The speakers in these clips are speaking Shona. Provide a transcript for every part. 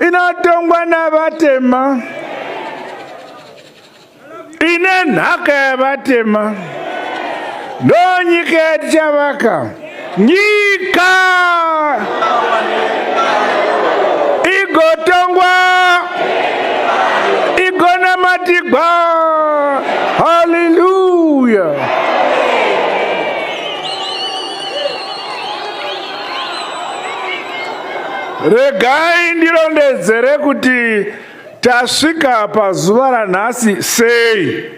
inotongwa navatema ine nhaka yavatema ndonyika yatichavaka nyika igotongwa igonamatigwa haleluya Regai ndirondedzere kuti tasvika pazuva ranhasi sei.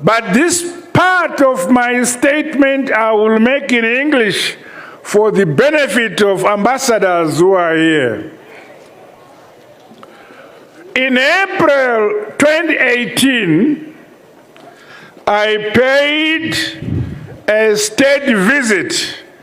But this part of my statement I will make in English for the benefit of ambassadors who are here. In April 2018, I paid a state visit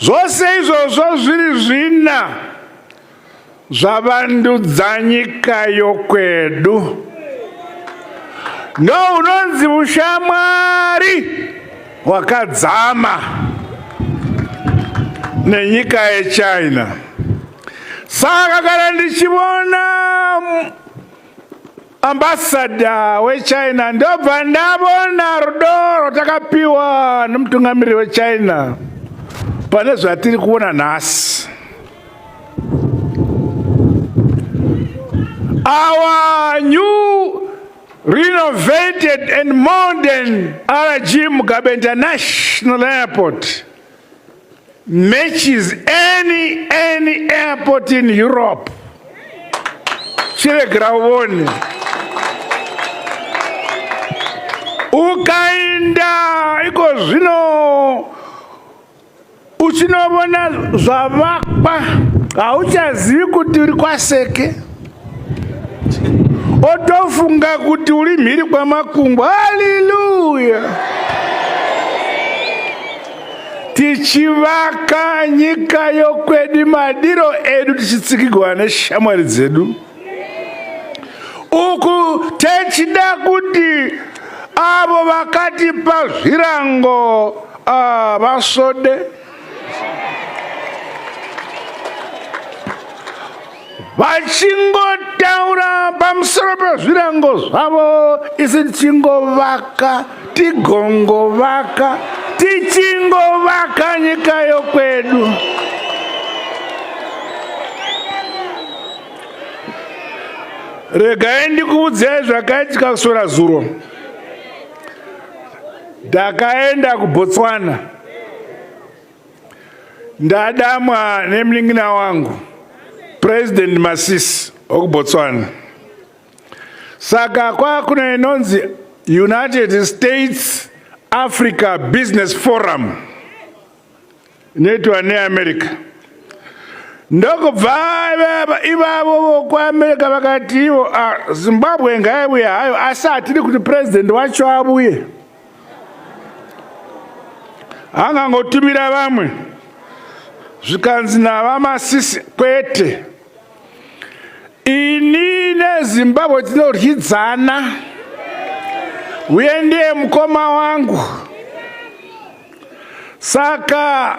Zvose izvozvo zviri zvina zvavandudza nyika yokwedu. Ndo unonzi ushamwari hwakadzama nenyika yechina. Saka kana ndichivona Ambassador weChina ndobva ndavona rudo rwatakapiwa nemutungamiriri weChina pane zvatiri kuona nhasi. Our new renovated and modern RG Mugabe International Airport matches any any airport in Europe chiregera uone ukainda iko zvino uchinovona zvavakwa hauchazivi kuti uri kwaseke otofunga kuti uri mhiri kwamakungu haleluya tichivaka nyika yokwedi madiro edu tichitsikigwa neshamwari dzedu uku techida kuti avo vakatipa zvirango ah, vasvode ah, vachingotaura pamusoro pezvirango zvavo isi tichingovaka tigongovaka tichingovaka nyika yokwedu regai ndikuudzai zvakaitika kusora zuro ndakaenda kubotswana Ndadamwa nemningina wangu President Masisi okuBotswana. Saka kwakune inonzi United States Africa Business Forum inoitwa neAmerica. Ndokubva ivavo vokuAmerica vakati ivo ah, Zimbabwe ngaivuye hayo asi hatidi kuti president wacho avuye. angangotumira vamwe zvikanzi navamasisi kwete ini nezimbabwe tinoryidzana uye ndiye mukoma wangu saka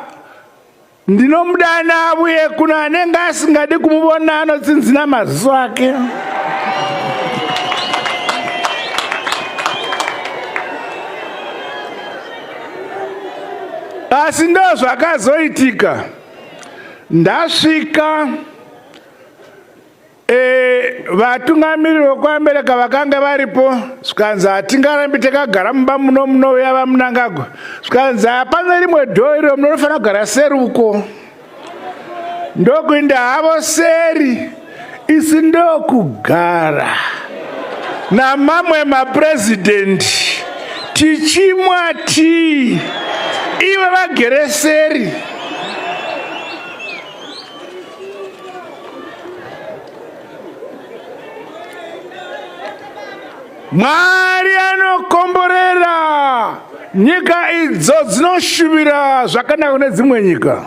ndinomudana avuye kuno anenge asingadi kumuvona anotsinzina maziso ake asi ndo zvakazoitika ndasvika E, vatungamiriri vekwamereka vakanga varipo zvikanzi hatingarambi takagara mumba muno munouya vamunangagwa zvikanzi hapana rimwe dhoo iro munofanira kugara seri uko ndokuinda havo seri isi ndokugara namamwe maprezidhendi tichimwa tii ivo vagere seri mwari anokomborera nyika idzo dzinoshuvira zvakanaka kune dzimwe nyika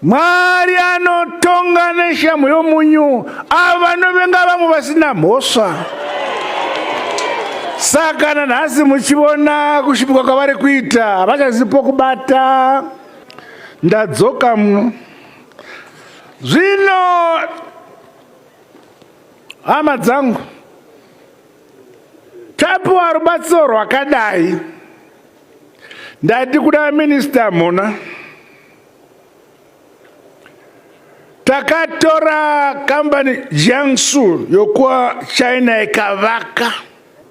mwari anotonga neshamhu yomunyu avo vanovenga vamwe vasina mhosva saka nanhasi muchiona kushupika kwavari kuita havachazivi pokubata ndadzoka muno zvino hama dzangu tapiwa rubatsiro rwakadai ndati kuda minista mhona takatora kambani jiangsu yokuwa china ikavaka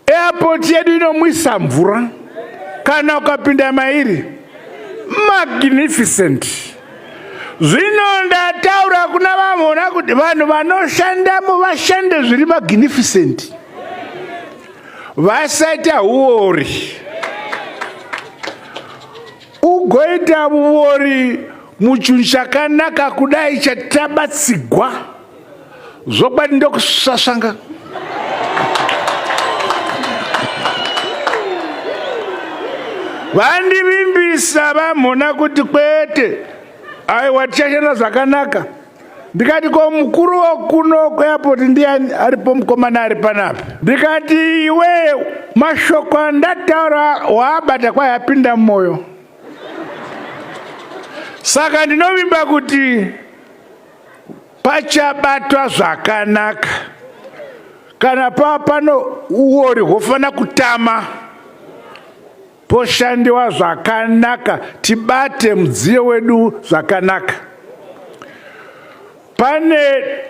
Airport yedu inomwisa mvura kana ukapinda mairi magnificent. Zvino ndataura kuna vamhona kuti vanhu vanoshandamo vashande zviri magnificent, vasaita uori. Ugoita uori muchunhu chakanaka kudai chatabatsigwa zvokwadi ndokusasvanga vandivimbisa vamhona kuti kwete aiwa tichashanda zvakanaka ndikati ko mukuru wokuno kweapoti ndiani aripo mukomana ari panapi ndikati iwe mashoko andataura waabata kwayapinda mumwoyo saka ndinovimba kuti pachabatwa zvakanaka kana pava pano uori hwofanira kutama poshandiwa zvakanaka tibate mudziyo wedu zvakanaka pane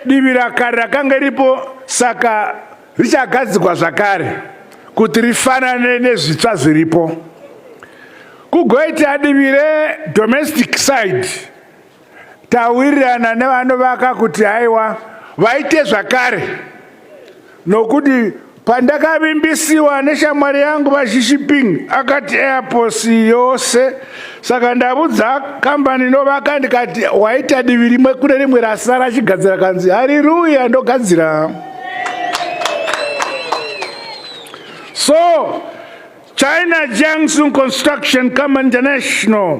divi rakare rakanga iripo saka richagadzikwa zvakare kuti rifanane nezvitsva zviripo kugoita divi redomestic side tawirirana nevanovaka kuti haiwa vaite zvakare nokuti pandakavimbisiwa neshamwari yangu vashishiping akati airpos yose saka ndavudza kambani inovaka ndikati waita divi rimwe kune rimwe rasara achigadzira kanzi hariruya ndogadzira so china jiangsun construction company international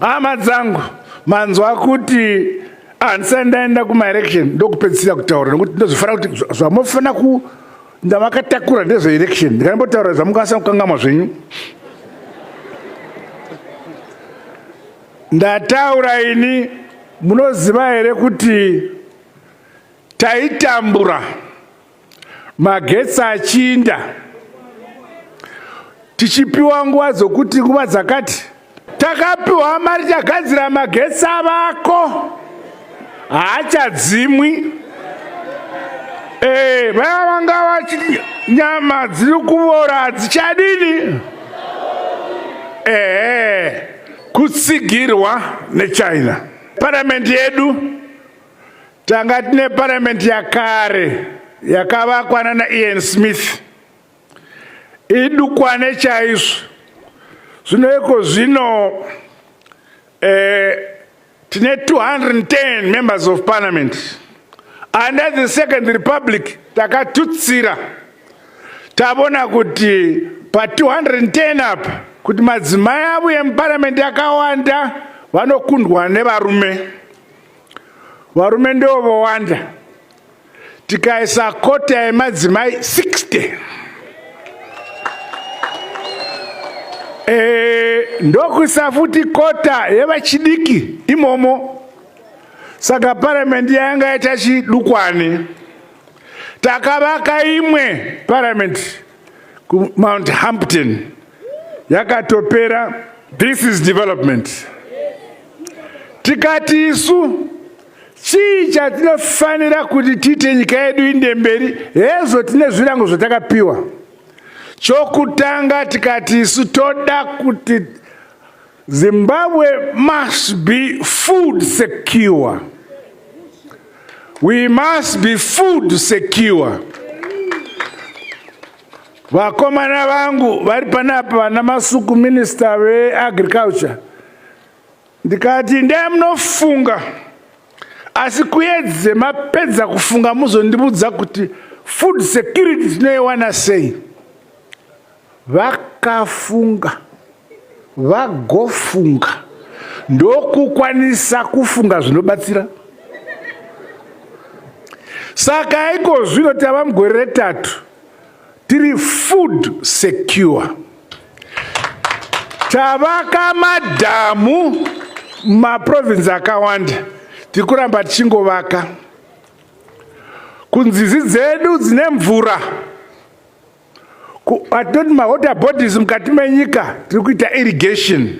Hama dzangu manzwa kuti handisai ndaenda kumaelection ndokupedzisira kutaura nokuti ndozofanira kuti zvamofanira ku ndamakatakura ndezveelection ndikaimbotaura zvamukwanisa kukangamwa zvenyu ndataura ini munoziva here kuti taitambura magetsi achinda tichipiwa nguva dzokuti nguva dzakati takapiwa mari tagadzira magetsi avako haachadzimwi ee eh, vaya vanga vachi nyama dziri kuvora hadzichadini ee eh, kutsigirwa nechina paramende yedu Tanga tine parliament yakare yakavakwa nana Ian Smith idukwane chaizvo zvino iko zvino eh, tine 210 members of parliament under the second republic takatutsira tavona kuti pa 210 apa kuti madzimai avo emuparliament akawanda vanokundwa nevarume varume ndivo vowanda tikaisa kota yemadzimai 60 e, eh, ndokuisa futi kota yevachidiki imomo saka paramendi yanga yaita chidukwani takavaka imwe paramendi kumount hampton yakatopera this is development tikati isu chii chatinofanira kuti tiite nyika yedu inde mberi hezvo tine zvirango zvatakapiwa chokutanga tikati isu toda kuti Zimbabwe must be food secure. We must be food secure. Vakomana vangu vari panapa vana masuku minister veagriculture ndikati ndee munofunga asi kuyedze mapedza kufunga muzondibudza kuti food security tinoiwana sei Vakafunga, vagofunga, ndokukwanisa kufunga zvinobatsira. Saka iko zvino tava mugore retatu tiri food secure, tavaka madhamu mumaprovinsi akawanda, tiri kuramba tichingovaka kunzizi dzedu dzine mvura. atoti mawater bodies mukati menyika tiri kuita irrigation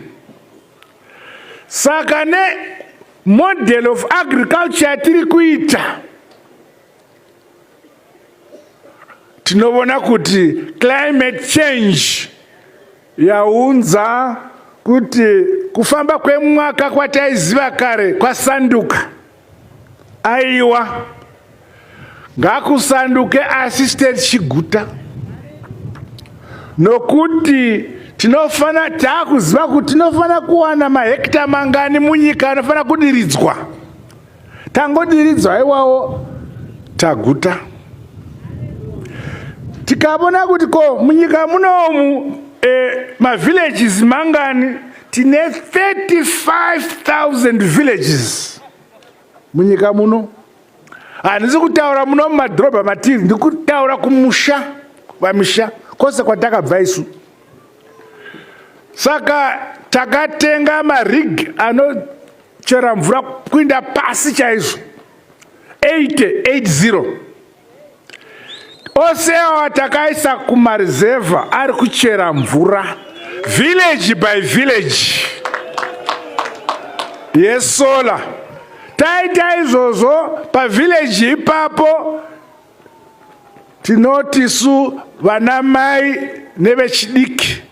saka ne model of agriculture yatiri kuita tinovona kuti climate change yaunza kuti kufamba kwemwaka kwataiziva kare kwasanduka Aiwa, ngakusanduke Assistant Chiguta nokuti tinofana taakuziva kuti tinofana kuwana mahekita mangani munyika anofana kudiridzwa tangodiridzwa iwawo taguta tikavona kuti ko munyika munomu e, eh, mavillages mangani tine 35000 villages munyika muno handisi kutaura muno mumadhorobha matiri ndikutaura kumusha vamisha kwose kwatakabva isu saka takatenga marig anochera mvura kuinda pasi chaizvo 880 ose awa takaisa kumarizevha ari kuchera mvura village by village yesola taita izvozvo pavillage ipapo tinoti su vanamai nevechidiki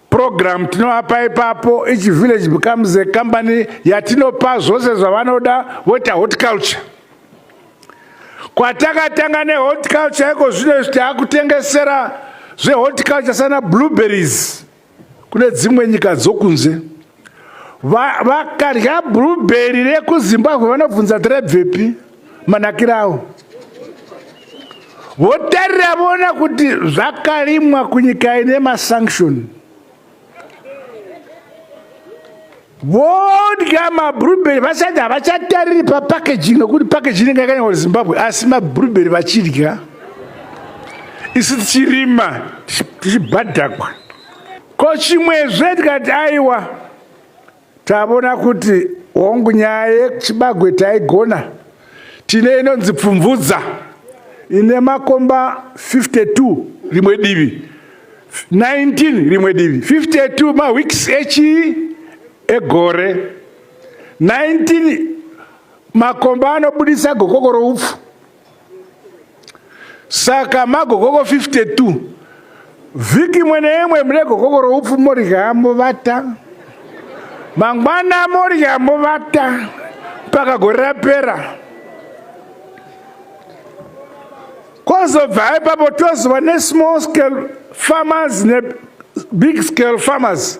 program tinovapa ipapo each village becomes a company yatinopa zvose zvavanoda voita horticulture kwatakatanga nehorticulture iko zvino izvi taakutengesera zvehorticulture sana blueberries kune dzimwe nyika dzokunze vakadya va blueberry rekuzimbabwe vanobvunza tirebvepi manakirawo votarira vona kuti zvakarimwa kunyika ine masanction vodya mabrubery vasati havachatariri papackaging nokuti packaging inenge yakanyango zimbabwe asi mabrubery vachidya isu tichirima tichibhadhakwa Ko chimwezve tikati aiwa tavona kuti hongu nyaya yechibagwe taigona tine inonzi pfumvudza ine makomba 52 rimwe divi 19 rimwe divi 52 maweeks echi egore 19 makomba anobudisa gokoko roupfu saka magokoko 52 vhiki imwe neimwe mune gokoko roupfu morya movata mangwana morya movata mpaka gore rapera kwazobva ipapo tozova nesmall scale farmers nebig scale farmers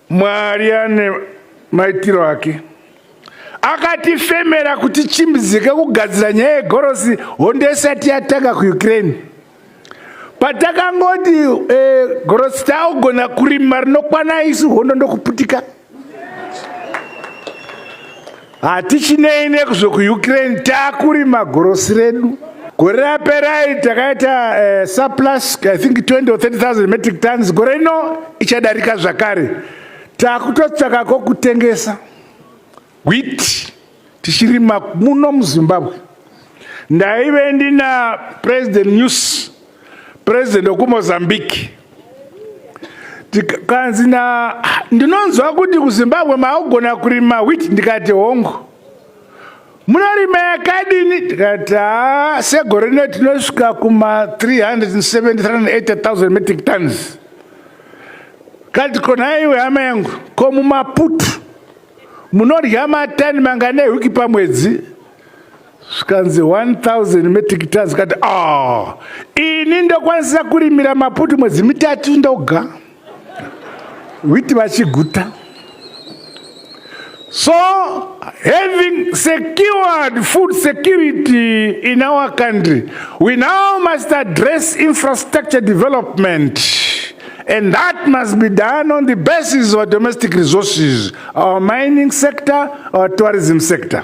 Mwari ane maitiro ake akatifemera kuti chimbidzike kugadzira nyaya yegorosi hondo isati yatanga kuukraine patakangoti eh, gorosi taugona kurima rinokwana isu hondo ndokuputika Hatichinei nekuzvo kuUkraine takurima gorosi redu. Gore raperai takaita uh, surplus I think 20 or 30,000 metric tons. Gore rino ichadarika zvakare. Takutotsvaka kokutengesa wheat tichirima muno muZimbabwe. Ndaive ndina President News President wekuMozambique tikanzi na ndinonzwa kuti kuZimbabwe maugona kurima wheat ndikati hongo munorima yakadini tikati ha segore rino tinosvika kuma 370 metric tons kati konaiwe hama yangu ko mumaputu munodya matani mangane hwiki pamwedzi zvikanzi 1000 metric tons zikati ah ini ndokwanisa kurimira maputi mwedzi mitatu ndoga witi vachiguta so having secured food security in our country we now must address infrastructure development and that must be done on the basis of our domestic resources our mining sector our tourism sector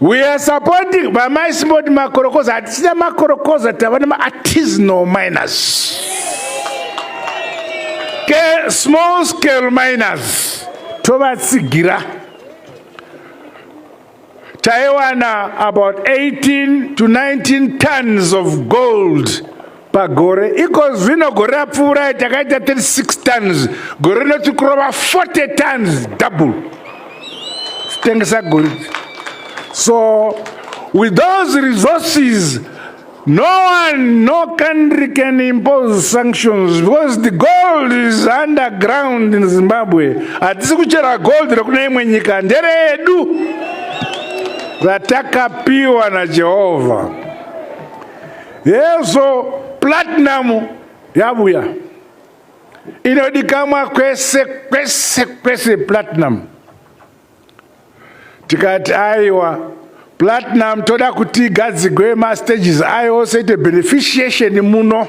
We are supporting by my small makorokoza. Hatichina makorokoza tava nema artisanal miners. Ke small scale miners tovatsigira. Taiwana about 18 to 19 tons of gold pagore ikozvino gore rapfuurai takaita 36 tons gore rino tiri kurova 40 tons double titengesa goridhe so with those resources no one no country can impose sanctions because the gold is underground in zimbabwe hatisi kuchera gold rekune imwe nyika nderedu ratakapiwa najehovha Hezvo platinum yabuya inodikamwa kwese kwese kwese platinum. Tikati aiwa platinum toda kuti igadzigwe mastages ayo ose ite beneficiation muno.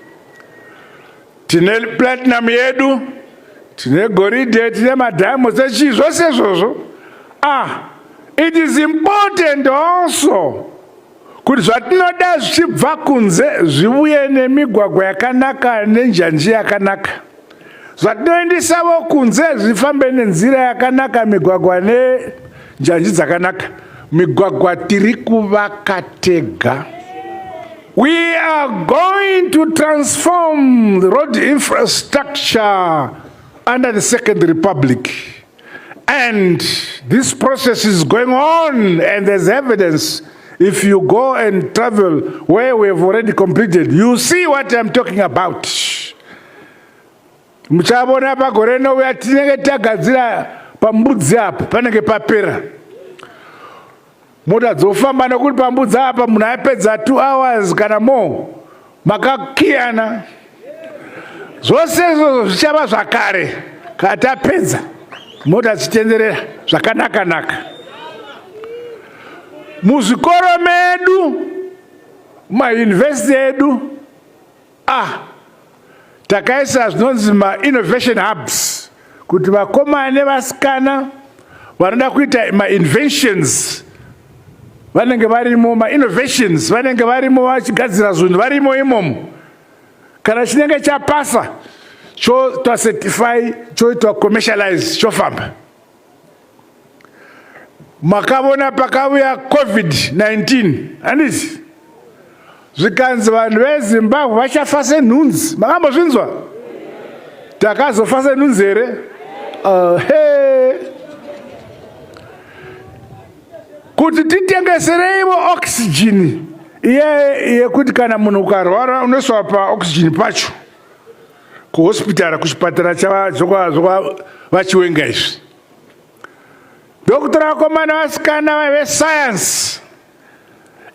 tine platinum yedu tine goridhe tine madiamonds echii zvose izvozvo ah it is important also kuti zvatinoda zvichibva kunze zvivuye nemigwagwa yakanaka nenjanji yakanaka zvatinoendesavo kunze zvifambe nenzira yakanaka migwagwa nenjanji dzakanaka migwagwa tiri kuvaka tega we are going to transform the road infrastructure under the second republic and this process is going on and there's evidence if you go and travel where we have already completed you see what i'm talking about muchavona pagore rinouya tinenge tagadzira pambudzi apa panenge papera mota dzofamba nekuti pambudzi apa munhu aipedza two hours kana more makakiyana zvose izvozvo zvichava zvakare kana tapedza mota dzichitenderera zvakanaka naka muzvikoro medu mayunivhesiti edu Ah, takaisa zvinonzi mainnovation hubs kuti vakomana nevasikana vanoda kuita mainventions vanenge varimo mainnovations vanenge varimo vachigadzira zvinhu varimo imomo kana chinenge chapasa chotocertify choitwa commercialize chofamba makavona pakavuya covid-19 handisi zvikanzi vanhu vezimbabwe vachafa senhunzi makambozvinzwa takazofa senhunzi here uh, hey. kuti titengesereivo oxygen iye yekuti kana munhu ukarwara unoiswa paoxygen pacho kuhospitara kuchipatara chavachiwenga izvi ndokutora vakomana vasikana vaive science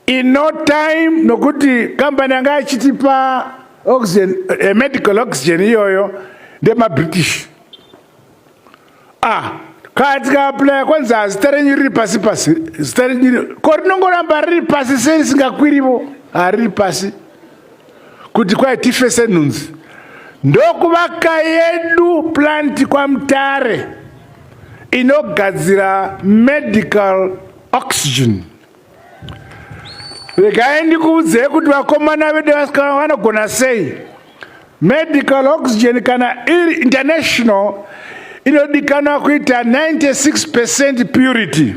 in no time nokuti kambani yanga achitipa oxygen eh, medical oxygen iyoyo ndemabritish ah kaa tikaaplaya kwanzi hazita renyu riri pasi pasi zita renyu ko rinongoramba riri pasi sei risingakwirivo hariri pasi kuti kwai tife senhunzi ndokuvaka yedu plant kwamutare inogadzira medical oxygen regai ndikuudzei kuti vakomana vedu vasikana vanogona sei medical oxygen kana iri international inodikanwa kuita 96 percent purity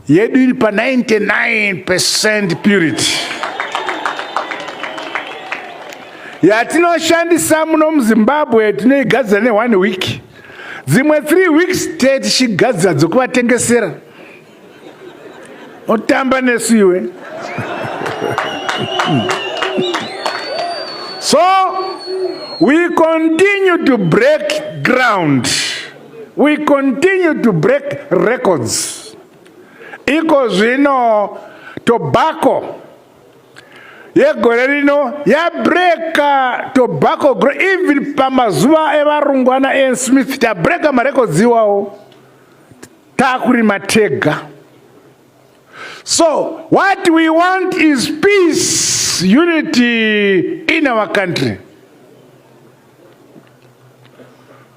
yedu iri pa 99% purity yatinoshandisa muno muzimbabwe tinoigadzira ne one week dzimwe three weeks te tichigadzira dzokuvatengesera otamba nesu iwe so we continue to break ground We continue to break records. Iko zvino tobacco yegore rino yabreka tobacco gro even pamazuva evarungu ana an smith tabreka marekodzi iwawo takurima tega so what we want is peace unity in our country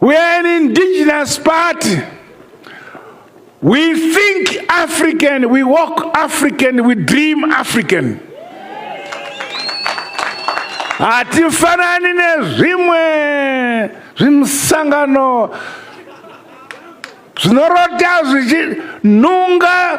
We are an indigenous party. We think African, we walk African, we dream African. Hatifanani nezvimwe zvimusangano zvinorota zvichinunga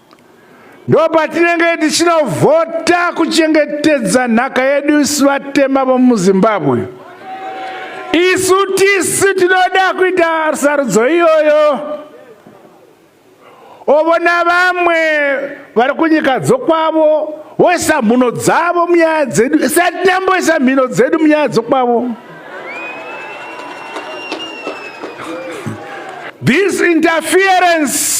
ndopatinenge tichinovhota kuchengetedza nhaka yedu isu vatema vomuzimbabwe isu tisu tinoda kuita sarudzo iyoyo ovona vamwe vari kunyika dzokwavo woisa mhuno dzavo munyaya dzedu satinyamboisa mhino dzedu munyaya dzokwavo this interference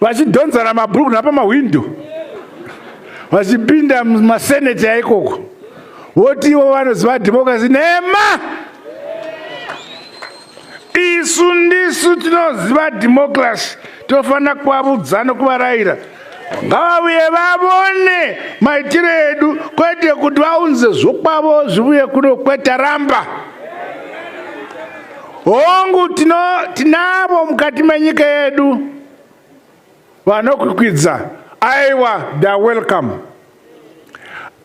vachidhonzana mabhuruku napamahwindo vachipinda mumaseneti aikoko voti ivo vanoziva dhemokirasi nhema isu ndisu tinoziva dhemokirasi tofanira kuvavudzano kuvarayira ngavavuye vavone maitiro edu kwete kuti vaunze zvokwavo zvivuye kuno kwete ramba hongu tinavo mukati menyika yedu vanokwikwidza aiwa theyare welcome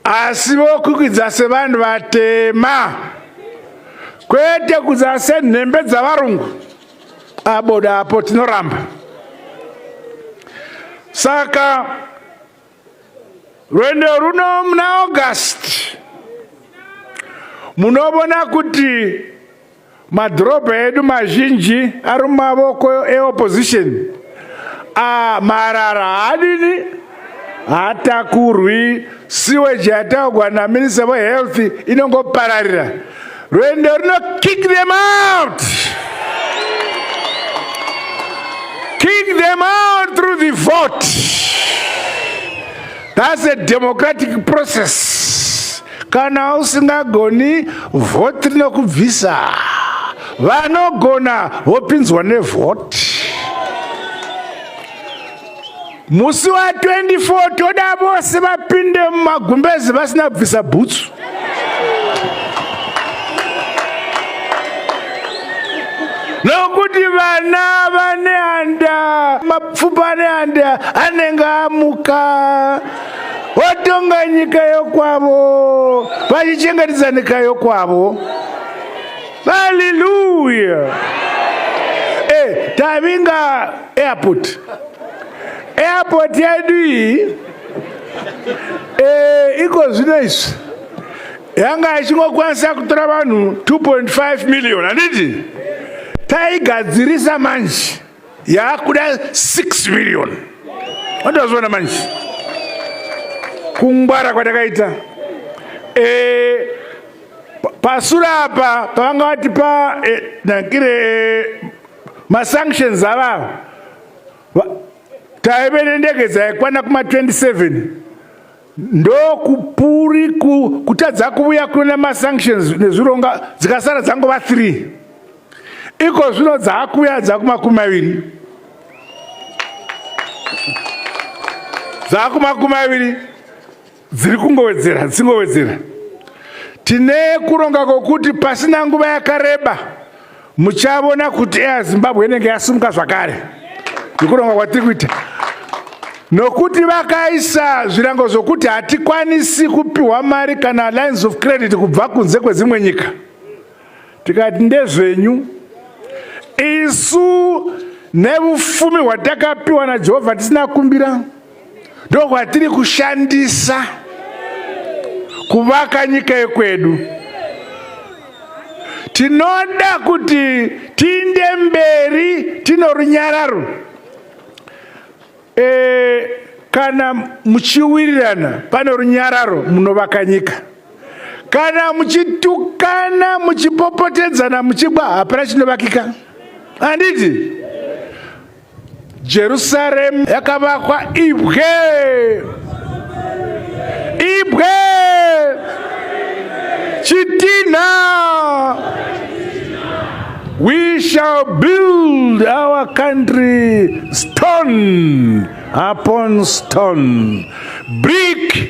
asi vokwikwidza sevanhu vatema kwete kudza senhembe dzavarungu aboda apo tinoramba saka rwendo runo muna august munovona kuti Madhorobha edu mazhinji ari mumavoko eopposition. Ah, marara haadini hatakurwi siweji yataugwa naminista wehealth inongopararira rwendo runo kick them out kick them out through the vote that's a democratic process Kana usingagoni vhoti rinokubvisa. Vanogona vopinzwa nevhoti. Musi wa 24 toda vose vapinde mumagumbezi vasina kubvisa bhutsu. Nokuti vana vane handa, mapfupa ane handa anenge amuka. Votonga nyika yokwavo, vachichengetedza nyika yokwavo. Haleluya! Eh, tavinga airport. Airport yedu iyi eh, iko zvino izvi yanga ichingokwanisa kutora vanhu 2.5 million handiti taigadzirisa manje yakuda 6 million andazviona manje kungwara kwatakaita e, pasura apa pavanga vatipa e, nakire e, masanctions avavo taive nendege dzaikwana kuma 27 ndokupuri kutadza kuvuya kuna masanctions nezvironga dzikasara dzangova three iko zvino dzaakuuya dzakumakumi maviri dzaakumakumi maviri dziri kungowedzera dzingowedzera tine kuronga kwokuti pasina nguva yakareba muchavona kuti air zimbabwe inenge yasumuka zvakare nekuronga kwatiri kuita nokuti vakaisa zvirango zvokuti hatikwanisi kupiwa mari kana lines of credit kubva kunze kwedzimwe nyika tikati ndezvenyu isu nevufumi hwatakapiwa najehovha tisina kumbira ndokwatiri kushandisa kuvaka nyika yekwedu tinoda kuti tiinde mberi tino runyararo e, kana muchiwirirana pane runyararo munovaka nyika kana muchitukana muchipopotedzana muchigwa hapana chinovakika handiti Jerusaremu yakavakwa ibwe ibwe chitinha we shall build our country stone upon stone brick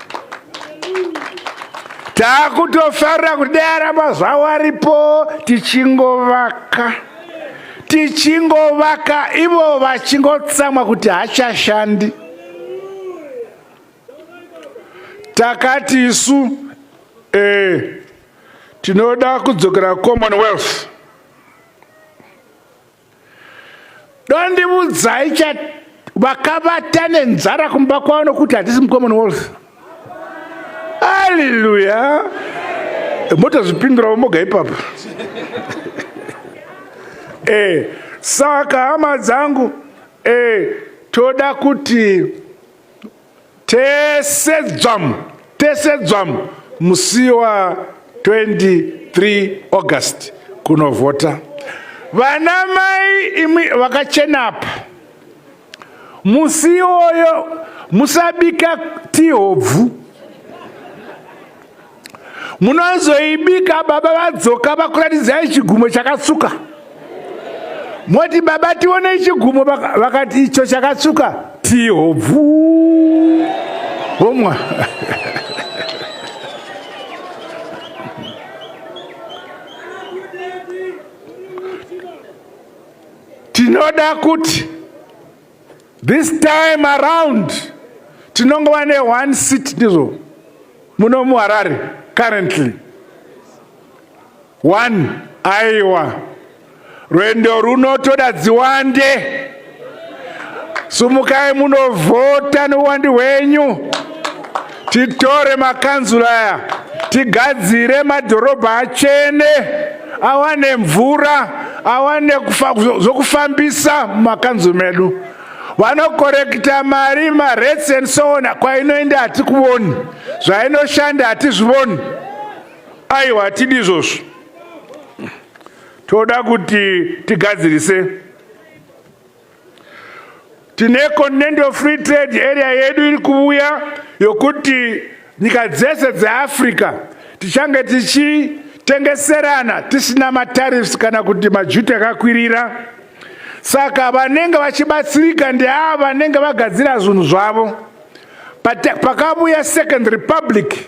takutofarira kuti dai aramba zvavo aripo tichingovaka tichingovaka ivo vachingotsamwa kuti hachashandi takati isu eh, tinoda kudzokera commonwealth dondivudzai cha vakavata nenzara kumba kwavo nokuti hatisi mucommon wealth aleluya motozvipindurawo moga ipapo e saka hama dzangu e toda kuti Tese dzvamu, tese dzvamu musi wa 23 August kunovhota. Vana mai imwi vakachena apa. Musi iwoyo musabika tihobvu. munozoibika baba vadzoka vakuratidzai chigumo chakatsuka moti baba tione chigumo vakati icho chakatsuka tihobvu homwa tinoda kuti This time around tinongova ne one seat ndizvo muno muharare currently one aiwa rwendo runo toda dziwande sumukai munovhota nowandi hwenyu Titore makanzura aya tigadzire madhorobha achene awane mvura awane zvokufambisa mumakanzuru medu vanokorekita mari marates and so on kwainoenda hatikuvoni zvainoshanda hatizvivoni aiwa hatidi izvozvo toda kuti tigadzirise Tine Continental Free Trade Area yedu iri kuvuya yokuti nyika dzese dzeAfrica tichange tichitengeserana tisina matariffs kana kuti majuti akakwirira. Saka vanenge vachibatsirika ndeava vanenge vagadzira zvinhu zvavo. Pakavuya Second Republic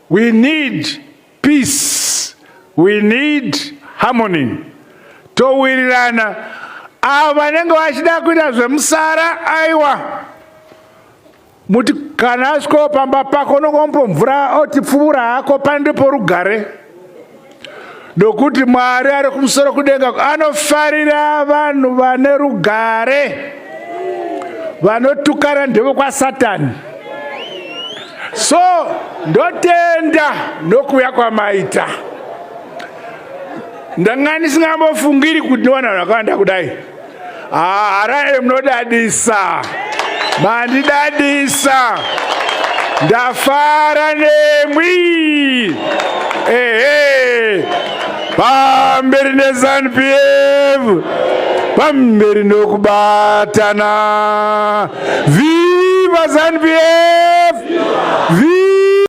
We need peace. We need harmony. Towirirana avo vanenge vachida kuita zvemusara aiwa muti kana asvikawo pamba pako unongomupa mvura otipfuura hako pane ndeporugare nokuti Mwari ari kumusoro kudenga anofarira vanhu vane rugare vanotukana ndevokwasatani so ndotenda nokuuya kwamaita ndanga ndisingambofungiri kuti ndiwana vanhu vakawanda kudai haarae munodadisa mandidadisa ndafara nemwi ehe pamberi nezanupf pamberi nokubatana viva zanupf viva